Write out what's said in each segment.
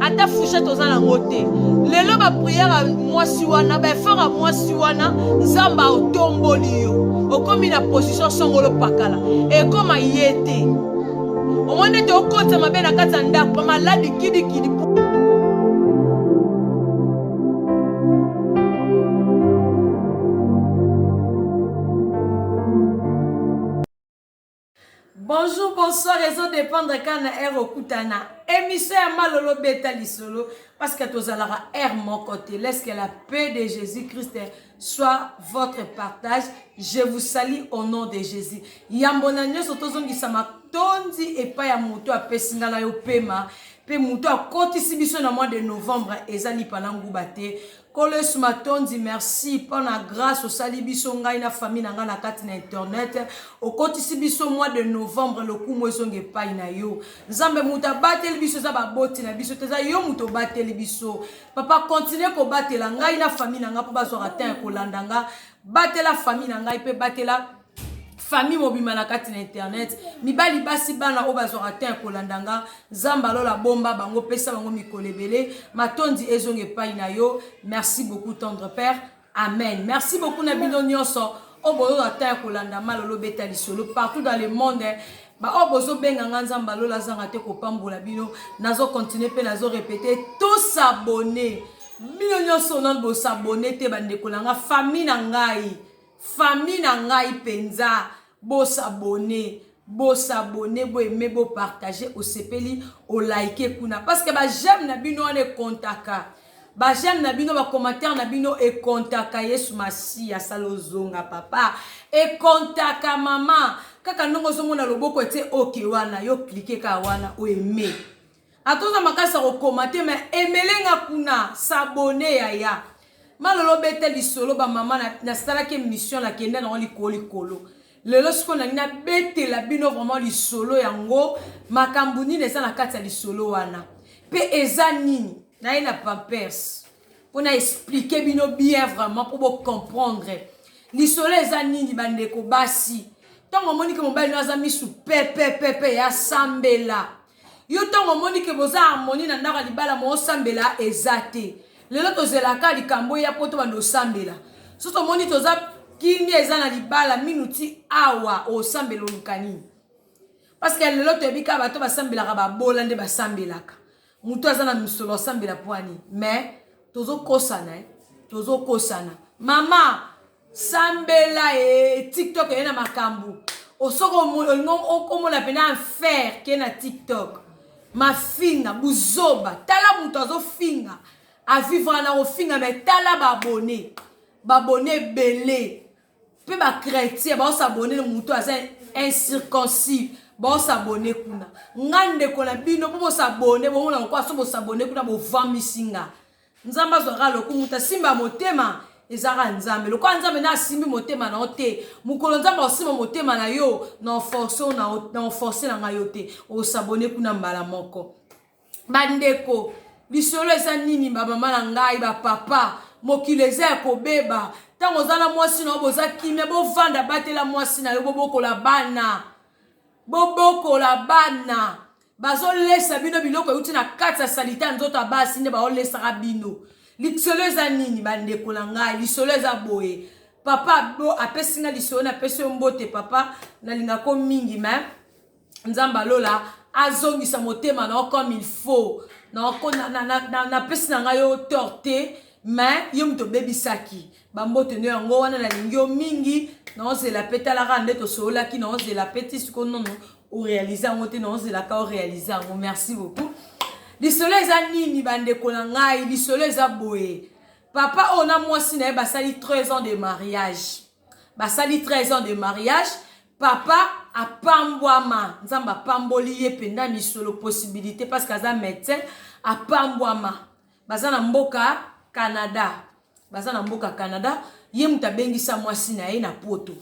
ata fouchette oza nango te lelo bapriere ya mwasi wana baefort ya mwasi wana nzambe aotomboli yo okomi na position songolo pakala ekoma ye te omoni ete okotisa mabe na kati ya ndako bamaladi kidikidi Bonjour bonsoir ezo dependre kaka na heure okutana emission ya malolo beta lisolo parce que tozalaka heure moko te laisse que la paix de Jésus Christ soit votre partage je vous salue au nom de Jésus yambo na nyonso tozongisa matondi epai ya moto apesi ngai na yo pema mpe moto akotisi biso na mois de novembre eza lipa na nguba te Nkolo yesu matondi merci pona grace osali biso ngai na famille na ngai na kati na internet okotisi biso mois de novembre lokumu ezonga epai na yo nzambe moto abateli biso eza baboti na biso te eza yo moto obateli biso papa continue kobatela ngai na famille na ngai mpo bazwaka temps ya kolanda nga batela famille na ngai mpe batela famille mobimba na kati na internet mibali basi bana oyo bazwaka te ya kolanda nga nzambe alola bomba bango pesa bango mikolo ebele matondi ezonga epai na yo merci beaucoup tendre père amen merci beaucoup na bino nyonso oyo boyoka te ya kolanda malolo beta lisolo partout dans le monde baoyo oh, bozobenga nga nzambe alola azanga te kopambola bino nazokontinue mpe nazorepete tosabone bino nyonso nano bosabone te bandeko na nga famille na ngai Famille na ngai penza bo s'abonner bo s'abonner bo aimer bo partager osepeli o liker kuna parce que ba j'aime na bino wana e comptaka ba j'aime na bino ba commentaire na bino e comptaka Yesu Masiya asala ozonga papa e comptaka maman kaka ndongo ozomona loboko ete oke wana yo cliquer kaka wana o aimer Ata oza makasi ya kokoma te mais emele nga kuna s'abonner yaya. Ma lolo beta lisolo ba mama na, nasalaki emission na kenda nango likolo likolo. Lelo sikoyo nalingi na betela bino vraiment lisolo yango makambu nini eza na kati ya lisolo wana pe eza nini. Naye na pampers po na expliquer bino bien vraiment po bo comprendre lisolo eza nini ba ndeko basi tango omoni ke mobali no aza misu pepepepe ya sambela. yo ntango omoni ke boza harmonie na ndako ya libala moosambela eza te lelo tozelaka likambo eya mpo tobanda osambela soki omoni toza kimia eza na libala minu ti awa osambela oluka nini parceke lelo toyebi kaka bato basambelaka babola nde basambelaka moto aza na misolo asambela pwani mais tozokosana eh? tozokosana mama Sambela ee tiktok eye na makambu osoko olingo omona pena enfer ke na tiktok mafinga buzoba tala mutu azofinga avivra na kofinga me tala ba abonne ba abonne ebele pe ba chretien baos abonne na mutu aza incirconcis baos abonne kuna nga ndeko na bino po bos abonne bomona lokola so bos abonne kuna bovamisi nga nzambe azwaka lokumu ta simba motema ezalaka nzambe lokola nzambe na asimbi motema na yo te mokolo nzambe akosimba motema na yo na oforce na oforce na ngai yo te osabone kuna mbala moko bandeko lisolo eza nini bamama na ngai bapapa mokili eza ya kobeba ntango oza na mwasi na yo boza kimia bovanda batela mwasi na yo bobokola bana bobokola bana bazolesa bino biloko euti na kati ya salite ya nzoto ya basi nde baolesaka bino lisolo eza nini bandeko na ngai lisolo eza boye papa bo apesi nga lisolo napesi yo mbote papa nalingako mingi me nzambe alola azongisa motema na yo comme il faut napesi na, na, na, na, na ngai yo tort te me yo moto obebisaki bambote nde yango wana nalingi yo mingi naozela mpe talaka nde tosololaki naozela mpe ti siko nono orealize yango te naozelaka orealize yango merci beaucoup lisolo eza nini bandeko na ngai lisolo eza boye papa oyo na mwasi na ye basali 13 ans de mariage basali 13 ans de mariage papa apambwama nzambe apamboli ye mpenza misolo possibilité parce que aza médecin apambwama Baza na mboka Canada. Baza na mboka Canada. Ye mutu abengi sa mwasi na ye na poto.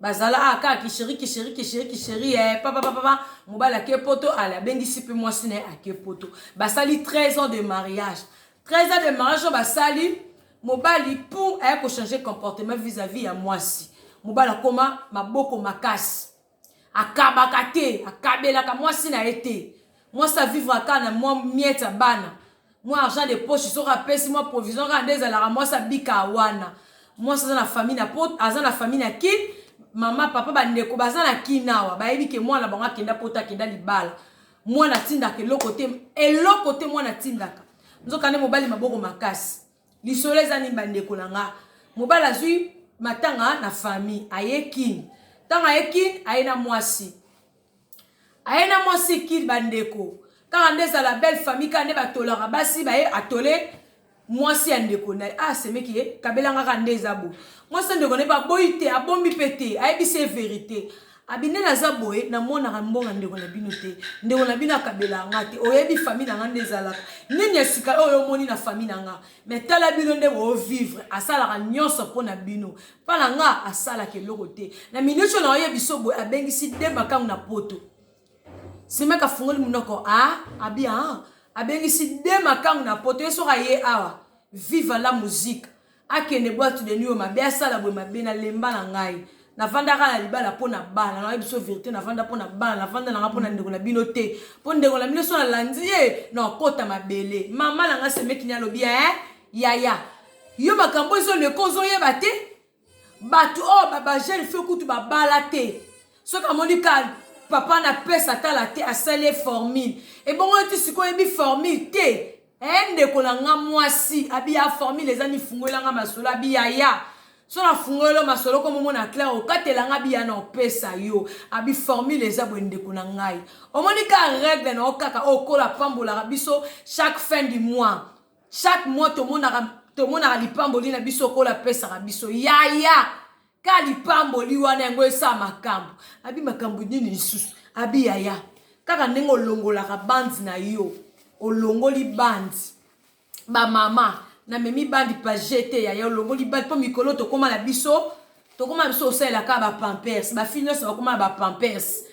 Bazala ah, kaka kisheri kisheri kisheri kisheri eh, papa papa papa mobali ake poto ale abengisi pe mwasi na ye ake poto. Basali 13 ans de mariage. 13 ans de mariage basali mobali pour aye ko changer comportement vis-à-vis ya mwasi. Mobali akoma maboko makasi. Akabaka te, akabelaka mwasi na ye te. Mwasi a vivre kaka na mwa miettes ya bana, mwa argent de poche soki apesi mwa provision kaka nde ezalaka mwasi abika wana. Mwasi aza na famille na poto, aza na famille na kin, mama, papa, ba ndeko baza na kin awa, bayebi ke mwana na bango akenda poto, akenda libala. Mwana atindaka eloko te, eloko te mwana atindaka. Nzoka nde mobali maboko makasi. Lisolo eza nini bandeko na nga mobali azwi matanga na famille aye kin ntango aye kin aye na mwasi aye na mwasi kin bandeko kaka nde ezala belle famille kaka nde batolaka basi baye atole mwasi ya ndeko na ye asemeki ah, ye kabelangaka nde eza bo mwasi ya ndeko na ye baboyi te abombi mpe te ayebisi ye verite Abinel aza boye na monaka mbonga ndeko na bino te ndeko na bino akabela nga te oyebi famille na nga nde ezalaka nini ya sika oyo omoni na famille na nga me tala bino nde boovivre asalaka nyonso mpo na bino mpa na nga asalaka eloko te na miniti oyo naoye biso boye abengisi de makango na poto semeka afungoli monoko a ah, abia ah, abengisi de makango na poto ye soki aye awa viva la musique akende boite de nuit oyo mabe asala boye mabe na lemba na ngai navandaka na libala mpo na bana nayebi biso verité navanda mpo na bana navanda nanga mpo na ndeko na bino te mpo ndeko na bino so nalandi ye na okota mabele mama na ngai semekini alobi e yaya yo makambo ezoleka ozoyeba te bato oyo oh, bajeune fio kutu babala te soki amoni ka papa na pesa atala te asali ye formule ebongo yo ti sikoyo oyebi formule te Eh ndeko na nga mwasi abi ya formule eza nifungola nga masolo abi ya ya so na fungolo masolo ko momo na clair okatela nga abi ya na opesa yo abi formule eza bwe ndeko na ngai omoni ka règle na okaka okola pambolaka biso chaque fin du mois chaque mois tomonaka tomonaka lipamboli na biso okola pesaka biso yaya ya. ka lipamboli wana yango esala makambo abi makambo nini lisusu abi yaya kaka ndenge olongolaka bandi na yo olongoli bandi bamama namemi bandi page te yaya olongoli bandi mpo mikolo tokóma na biso tokóma na biso osalela kaka bapampers bafi nyonso bakóma na bapampers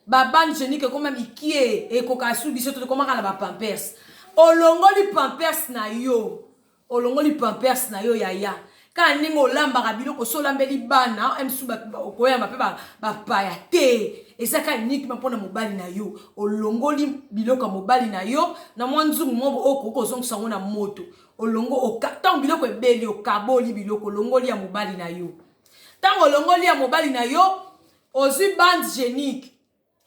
babandi genike ekóma mikie ekoka su biso te tokomaka na bapampers olongoli pampers na yo Olongoli pampers na yo yaya. Kaka ndenge olambaka biloko osi olambeli bana msu okoyamba pe bapaya te eza kaka uniquement mpo na mobali na yo olongoli biloko ya mobali na yo na mwa nzungu moko okoki oh, kozongisa yango na moto olongo ntango biloko ebeli okaboli biloko olongoli ya mobali na yo ntango olongoli ya mobali na yo ozwi bande genique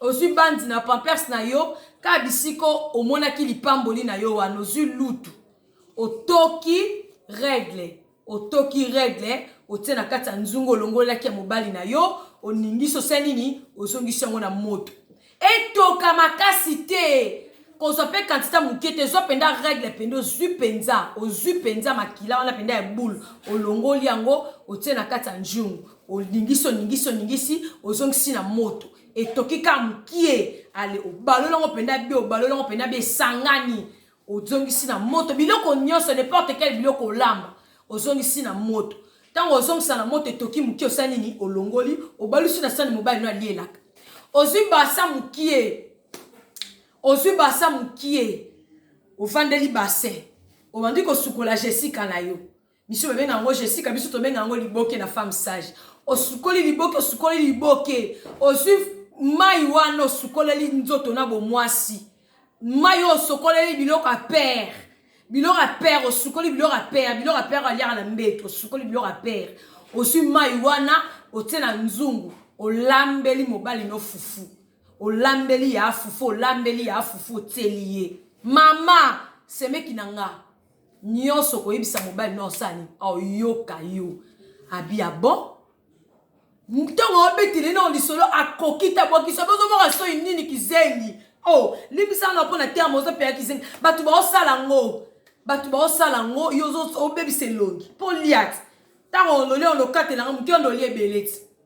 Ozwi bandi na pampers na yo kaka bisika omonaki lipamboli na yo wana ozwi lutu otoki regle otoki regle otie na kati ya nzungu olongolelaki ya mobali na yo oningisi osali nini ozongisi yango na moto etoka makasi te kozwa mpe kantita moke te zwa mpenza regle mpenza ozwi mpenza ozwi mpenza makila wana mpenza ya boule olongoli yango otie na kati ya njungu Oningisi, oningisi, oningisi, ozongisi na moto. Etoki kaka mokie. Ale, obaloli yango mpenza bie, obaloli yango mpenza bie, esangani. Ozongisi na moto. Biloko nyonso, n'importe quel biloko olamba, ozongisi na moto. Ntango ozongisa na moto, etoki mokie, osali nini? Olongoli, obalusi na sani mobali no alielaka. Ozwi basa mokie, ozwi basa mokie, ofandeli basin, obandi kosukola Jessica na yo. Biso babenga yango Jessica, biso tobenga yango liboke na femme sage. Osukoli liboke, osukoli liboke, ozwi mai wana osukoleli nzoto na bomwasi, mai oyo osokoleli biloko ya pere, biloko ya pere, osukoli biloko ya pere, biloko ya pere aliaka na mbeto, osukoli biloko ya pere, ozwi mai wana otie na nzungu, olambeli mobali no fufu, olambeli ya fufu, olambeli ya fufu, otieli ye mama semeki na nga nionso koyebisa mobali no osala nini oyoka yo abi ya bon ntongo abetele nao lisolo akoki te abwakisi obe ozomona soi nini kizengi o oh, limbisa na mpo na terme ozopela kizengi bato baosala yango bato baosala yango yo obebisa elongi mpo liati ntango ololi olokatelanga moke ondoli ebele ti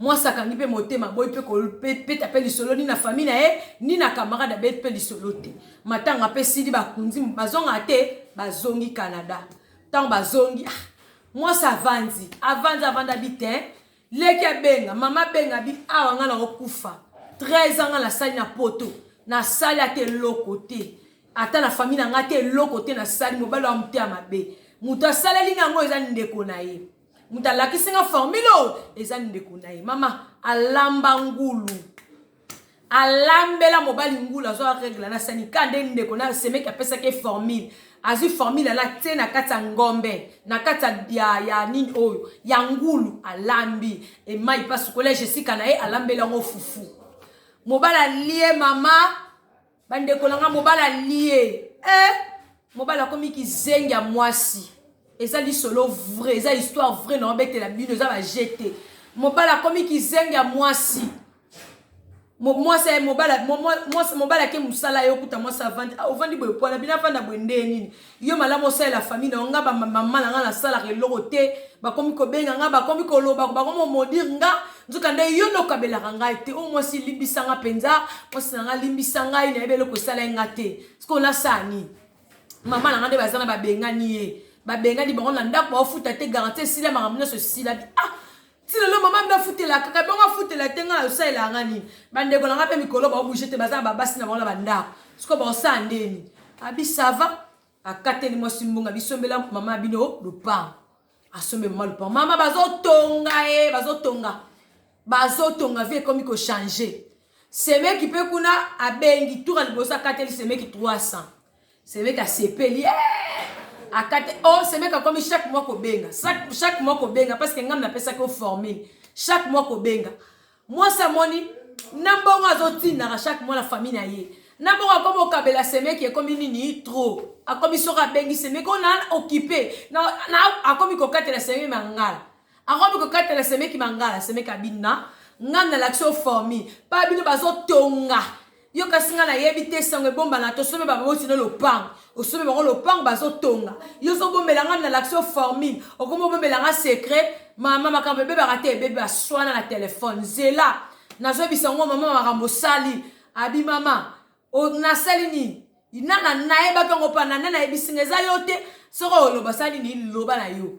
Mwasi akangi mpe motema, aboyi mpe kobeta mpe lisolo ni na fami na ye ni na kamarade, abeti mpe lisolo te. Matanga mpe esili, bakundi bazongaka te, bazongi Canada. Ntango bazongi, ah, mwasi avandi avandi avanda bi te leki abenga mama abenga bi awa ngai nakokufa 13 ans ngai nasali na poto nasali ata eloko te ata na famille na ngai te eloko te nasali mobali wa moteya mabe moto asaleli na yango eza ndeko na ye moto alakisi nga formule oyo eza ndeko na ye mama alamba ngulu alambela mobali ngulu azwa regle na sanika nde ndeko na semeki apesaki formule azwi formule ala te na kati ya ngombe na kati ya, ya nini oyo ya ngulu alambi emai mpasukola jesika na ye alambeli yango fufu mobali alie mama bandeko na ngai mobali alie eh, mobali akomi kizengi ya mwasi eza lisolo vrai eza histoire vrai na obetela bino eza baje te mobali akomi kizengi ya mwasi mwasi aye mobali ake mosala ye okuta mwasi avandi ah, ovandi boye pwana bino avanda boye ndee nini Yo malamu osalela famille na yo nga ba maman na nga nasalaka eloko te bakomi kobenga nga bakomi koloba bakomi komodir nga nzokande yo nde okabelaka ngai te o oh, mwasi limbisa nga mpenza mwasi na nga limbisa ngai nayebi eloko esala ye nga te sikoyo nasala nini mama na nga nde baza na babengani ye babengani bango na ndako baofuta te garanti esila makambo nyonso esilaki ah ti lelo mama mbe afutelaka kaka bongo afutela te ngai nayosalelaka ngai nini bandeko na ngai mpe mikolo baobouge te baza na babasi na bango na bandako sikoyo baosala ndeni abi sava akateli mwasi mbongo abisombela mama bino lopango asombe mama lopango mama bazotonga ye bazotonga bazotonga vie ekomi kochange semeki mpe kuna abengi tour ya liboso akateli semeki 300 Semeka asepeli eh! akate o oh, semeka akomi chaque mois kobenga chaque mois kobenga parce que ngai napesaki o formule chaque mois kobenga mwasi amoni na mbongo azotindaka chaque mois na famille na ye na bongo akomi okabela semeki ekomi nini trop akomi soki abengi semeki ona okipe akomi kokatela semeki mangala Akomi kokatela semeki mangala semeki abina nga na lakisi yo formi pa bino bazotonga yo kasi nga nayebi te sango ebombana tosombe baboti no lopango osombe bango lopango bazotonga yo ozobombela nga na lakisi yo formule okomi obombela nga secret mama makambo ebebaka te ebebe baswana na telefone zela nazoyebisa ngo mama makambo osali abi mama nasali nini nana nayebaki yango mpa nana nayebisi nga eza yo te soki oloba sali nini loba na yo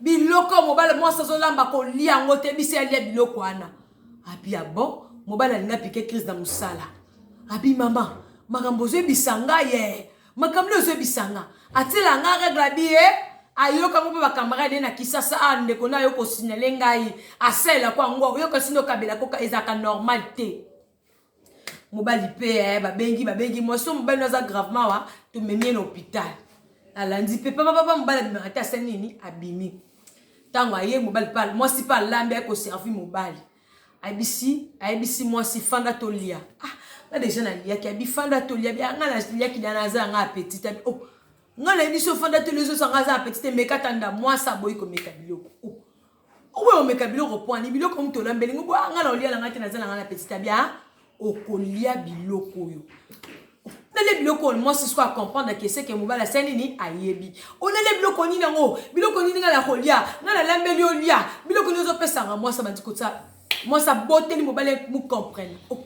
Biloko oyo mobali mwasi azolamba kolia yango te biso alia biloko wana abi ya ah bon mobali alingi apike crise na mosala abi mama makambo ozoyebisa nga ye eh. makambo nde ozoyebisa nga atiela nga regle abi ye eh. ayoka ngo mpe bakamarade ye na kisasa a ah, ndeko na yo kosinyale ngai asalelako yango oyoka sino okabelako ezalaka normal te mobali mpe eh, babengi babengi mwasi oyo mobali aza gravement awa tomemi ye na hôpital alandi mpe papapapa mobali abimaka ata ase nini abimi ntango aye mobali mpe mwasi mpe alambi aye koservi mobali ayebisi ayebisi mwasi fanda tolia ah nga deja naliaki abi fanda tolia bi nga naliaki da naza yanga appetit abi oh nga nayebi so fanda tolia ezosanga aza appetit emeka tanda mwasi aboyi komeka biloko oh Oboya omeka biloko pwani biloko mutu olambeli ngo boya nga na olia na nga te naza na nga na petit abia okolia biloko oyo olele biloko oyo mwasi siko acomprendre ke seke mobali ase nini ayebi olele biloko nini yango biloko nini ngai nakolia ngai nalambeli olia biloko nini ozopesanga mwasi abandi kotya mwasi aboteli mobali mucomprene oh,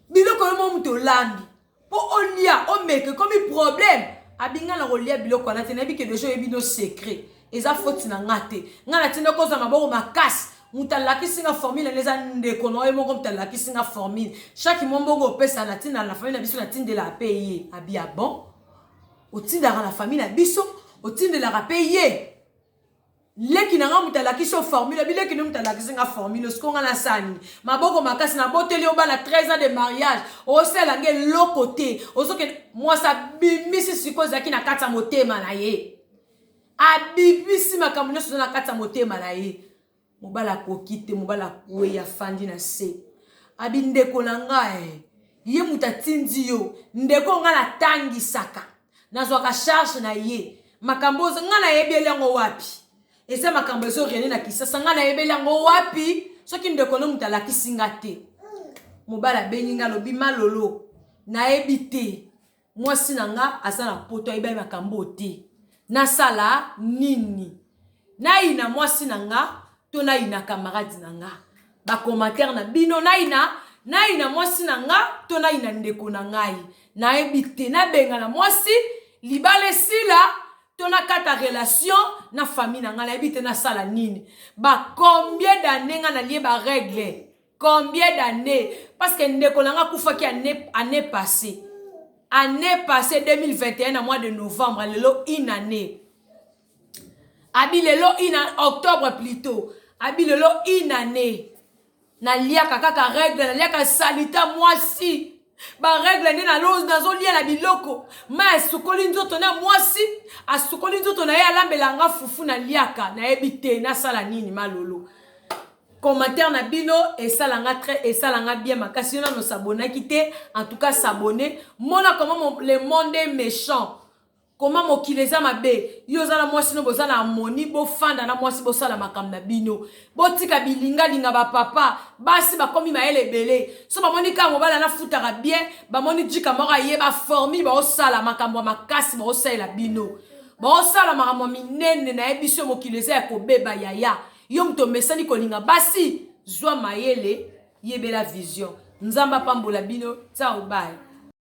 biloko yo mo moto olambi Po olia omeka ekomi problème abi nga nakolia biloko wana te nayebi que dejà oyebi no secret eza faute na nga te nga natindaki ozwa maboko makasi moto alakisi nga formule wana eza ndeko na oye moko moto alakisi nga formule chaque mwa mbongo opesa natindaka na famille na biso natindelaka mpe ye abi ya bon otindaka na famille na biso otindelaka mpe ye Leki na nga moto alakisi yo formule bi leki ne moto alakisi nga formule siko nga nasala nini maboko makasi naboteli yo bana 13 ans de mariage osala nga eloko te ozokende mwasi abimisi siko ezalaki na kati ya motema na ye abimisi makambo nyonso eza na kati ya motema na ye mobali akoki te mobali akwei afandi na se abi ndeko na nga e ye moto atindi yo ndeko nga natangisaka nazwaka charge na ye makambo oyo ngai nayebeli yango wapi eza makambo ezo rene na kisasa ngai nayebeli yango wapi soki ndeko no moto alakisi nga te mobali abengi nga alobi malolo nayebi te mwasi na nga aza na poto ayebi makambo oyo te nasala nini Nayina mwasi na nga to nayina camarade na nga? Ba commentaires na bino nayina nayina mwasi na nga to nayina ndeko na ngai? Nayebi te nabengana mwasi libala esila to nakata relation na famille na nga nayebi te nasala nini? Ba combien d'années nga nalie ba règles? Combien d'années? Parce que ndeko na nga akufaki année année passée. Année passée 2021 na mois de novembre lelo une année. abi lelo ina octobre plutot abi lelo inane naliaka kaka regle naliaka salita mwasi baregle nde nazolia na biloko mai asukoli nzoto na mwasi asukoli nzoto na ye alambela nga fufu naliaka nayebi te nasala nini malolo commentaire na bino esala nga très esala nga bien makasi yo nano sabonaki te en tout cas sabonne mona comment le monde est méchant Comment mokili eza mabe yo oza na mwasi no boza na harmonie bofanda na mwasi bosala makambo na bino botika bilingalinga ba papa basi bakomi mayele ebele so bamoni kaka mobali anafutaka bien bamoni jika moko aye baformi baosala makambo ya makasi baosalela bino baosala makambo ya minene na ye biso mokili eza ya kobeba yaya yo moto omesani kolinga basi zwa mayele yebela vision nzambe apambola bino tsaobai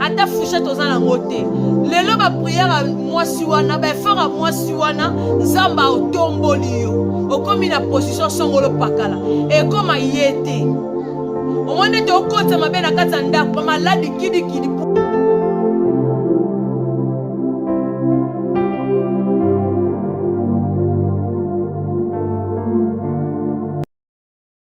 ata fushete oza nango te lelo bapriere ya mwasi wana baefort ya mwasi wana nzambe aotomboli yo okomi na position songolo pakala ekoma ye te omoni ete okotisa mabe na kati ya ndako bamaladi kidikidi